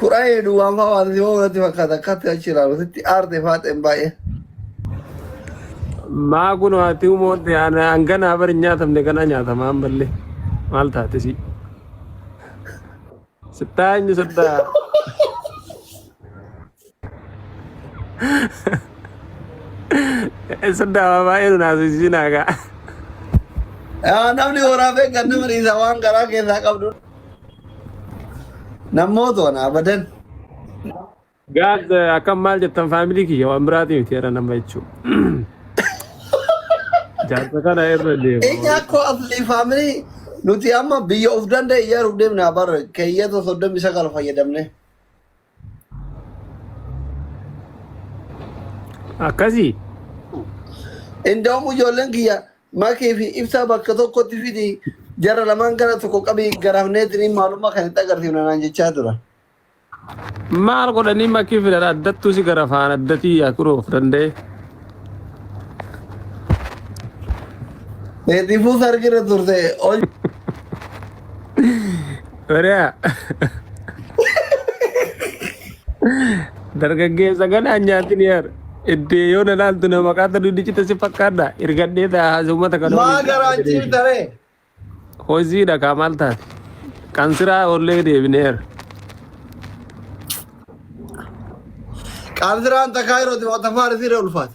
Kura hedu wampa wanti ho nati fakata kati achira rusitti arte faten baye. Maa kun haati uumootti hanganaa bari hin nyaatamne kana nyaatama ammallee maal taate si sittaa eenyu sittaa Isa daawa baay'ee nu naasisiin hagaa. Yaa namni horaa beekan nama dhiisa waan garaa keessaa qabdu. Namoota waan abadan. Gaad akkam maal jettan faamilii kiyya waan biraatii miti jedha nama jechuudha. Jaarsa kana irra deema. Eenyu akkoo afli faamilii nuti amma biyya of danda'e ijaaruuf deemna bara keeyyata soddomii sagal fayyadamne. akkasii Indoomu ijoolleen kiyya makii fi ibsaa bakka tokkotti fidi jara lamaan gara tokko qabii garafneetiin maalummaa kan itti agarsiifna naan jechaa tura. maal godhanii makii fidan addattuu si gara faan addatii yaa kuroof danda'e Eetifuu sargira turte ol Bari'a. Dargaggeessa ganaan nyaatin yaar. Iddee yoo na laaltu na maqaata duddichita si fakkaadha. Irgadhee ta'a haasa uummata kana. Maa waliin garaan taa'ee deebi. ciibta ree? Hojiidha kaa maal taate? Kan siraa ollee deebineera. Qaamsiraan takkaa yeroo xiqqoo tafaarisiirra ulfaata.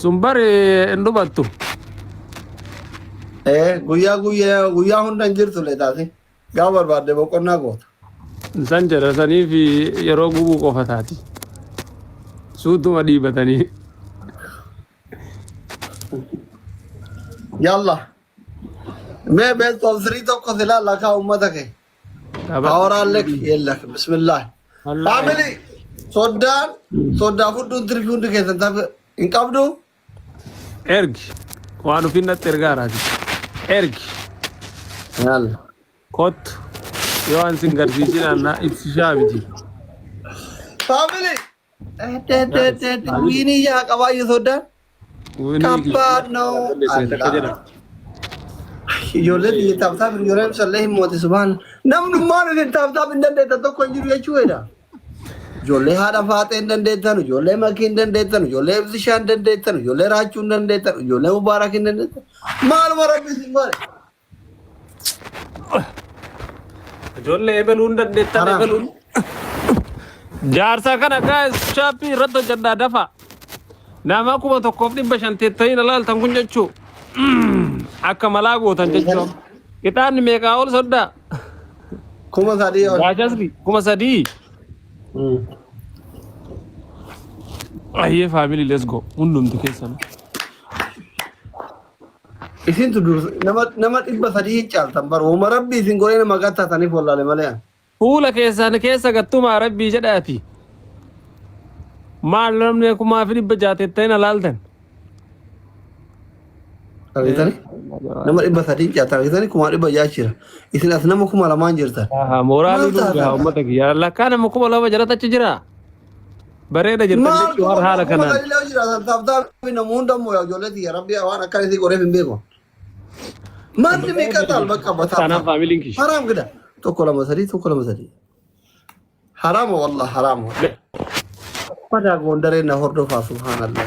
sun bari hin dhumattu ee guyyaa guyyaa guyyaa hunda hin jirtu leetaasi gaafa barbaadde boqonnaa goota san jedha saniif yeroo gubuu qofa taati suutuma dhiibatanii yalla mee beektoon sirii tokko silaa lakaa ummata kee Power Alec yellak. Bismillah. Family soddaan soddaa fudhuun tirfi hundi keessan tafe hin qabdu. Ergi waan ofiin natti ergaa raati. Ergi Yalla. kottu yoo an sin garsiisin annaa ibsishaa miti. Family Wiinii yaa qabaa yoo soddaan. Kabbaad noo. Ijoollee biyya taaptaaf ijoollee ibsallee hin moote subhaan. Namni maal isin taaptaaf hin dandeettan tokko hin jiru jechuu jedha. Ijoollee haadha faaxee hin dandeettan, ijoollee makii hin dandeettan, ijoollee ibsishaa hin dandeettan, ijoollee raachuu hin dandeettan, ijoollee mubaarak hin dandeettan. Maaluma rabbi isin godhe. Ijoollee ebeluun dandeettan Haraa. ebeluun. Jaarsa kana gaa'es shaappii irratti hojjedhaa dafa. Nama kuma tokkoof dhibba shan teettanii na laaltan kun jechuu. Akka malaa gootan jechuu. Ixaanni meeqaa ol soddaa? Kuma sadii ol. Gaajasni kuma sadii. Mm. Ayyee faamilii let's go hundumti keessan. Isintu dursa nama nama dhibba sadii hin caaltan bar woma rabbi isin godhee nama gattaataniif wallaale malee an. Fuula keessaan keessa gattumaa rabbii jedhaati. Maal namni kumaa fi dhibba jaha tettee na laaltan. Argitani? Nama dhibba sadii hin caaltan argitani kumaa dhibba jaha jira. Isin as nama kuma lamaan jirtan. Aha, mooraalii Maal taata? dhugaa uummata kiyya. Lakkaa nama kuma lama jalatti achi jira. Bareeda jirtan Maal jechuun waan haala kanaan. Maal illee jira taphtaa namu hunda immoo yaa ijoollee tiyya rabbi waan akka isii godheef hin beeku. Manni meeqa taal bakka bataa. Taanaan faamiliin kiyya. Haraam gida. Tokko lama sadii tokko lama sadii. Haraama wallah haraama. Madaa goondaree na hordofaa subhaanallah.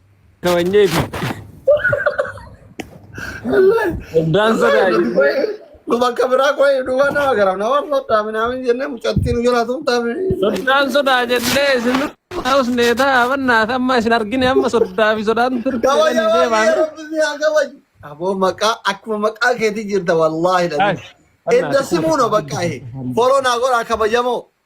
Kabanyee fi Daan sodaa jennee. Nu bakka biraa qo'e duuba nama garam nama foddaa minaamin jennee mucattiin jala tumtaa Soddaan sodaa jennee isin hausnee ta'a bannaat amma isin argine amma soddaa fi sodaan turte Kabaja jedhanii baay'ee deemaan. rabbi haa kabaju. Aboo maqaa akkuma maqaa keetii jirta wallaahi dhabi. Edda simuuno bakka ahe. Foloo naa godhaa kabajamoo.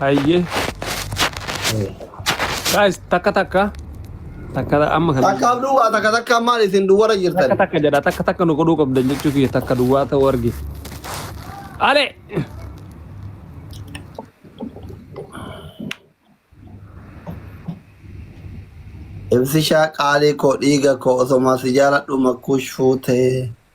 Hayyee. Guys, takka takka. Takka amma kan. Takka abduu waa takka takka maal isin duwwara Takka jirtan. takka jedha takka takka nu godhuu qabdan jechuu kiyya takka duwwaa ta'uu argite. Ale! Ibsishaa qaalii koo dhiiga koo osoma si jaaladhu makkuush fuutee.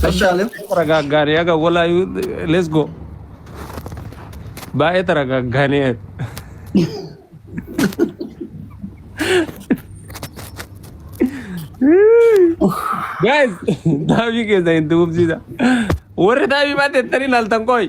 Tashaalee. Taragaaggaanii aga walaa let's go. Baay'ee taragaaggaanii. Guys, daabii keessa hin tuqubsiisa. Warri daabii baatee tani laaltan qoy.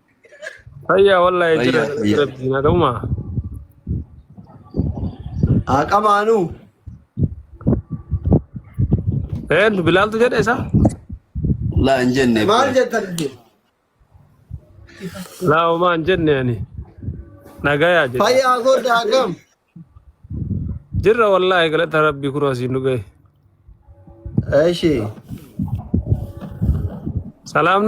Fayyaa wallahi jira Fayyaa, galata fayyaa. rabbii nagaumaa. Haa qamaanuu. Een bilaaltu jedhe isa? Laa hin jenne. Maal jettan? Laa homaa hin jenne ani. Nagayaa jedhe. Fayyaa godda akkam? Jirra wallahi galata rabbii kunoo asiin nu gahe. Eshi. Salaam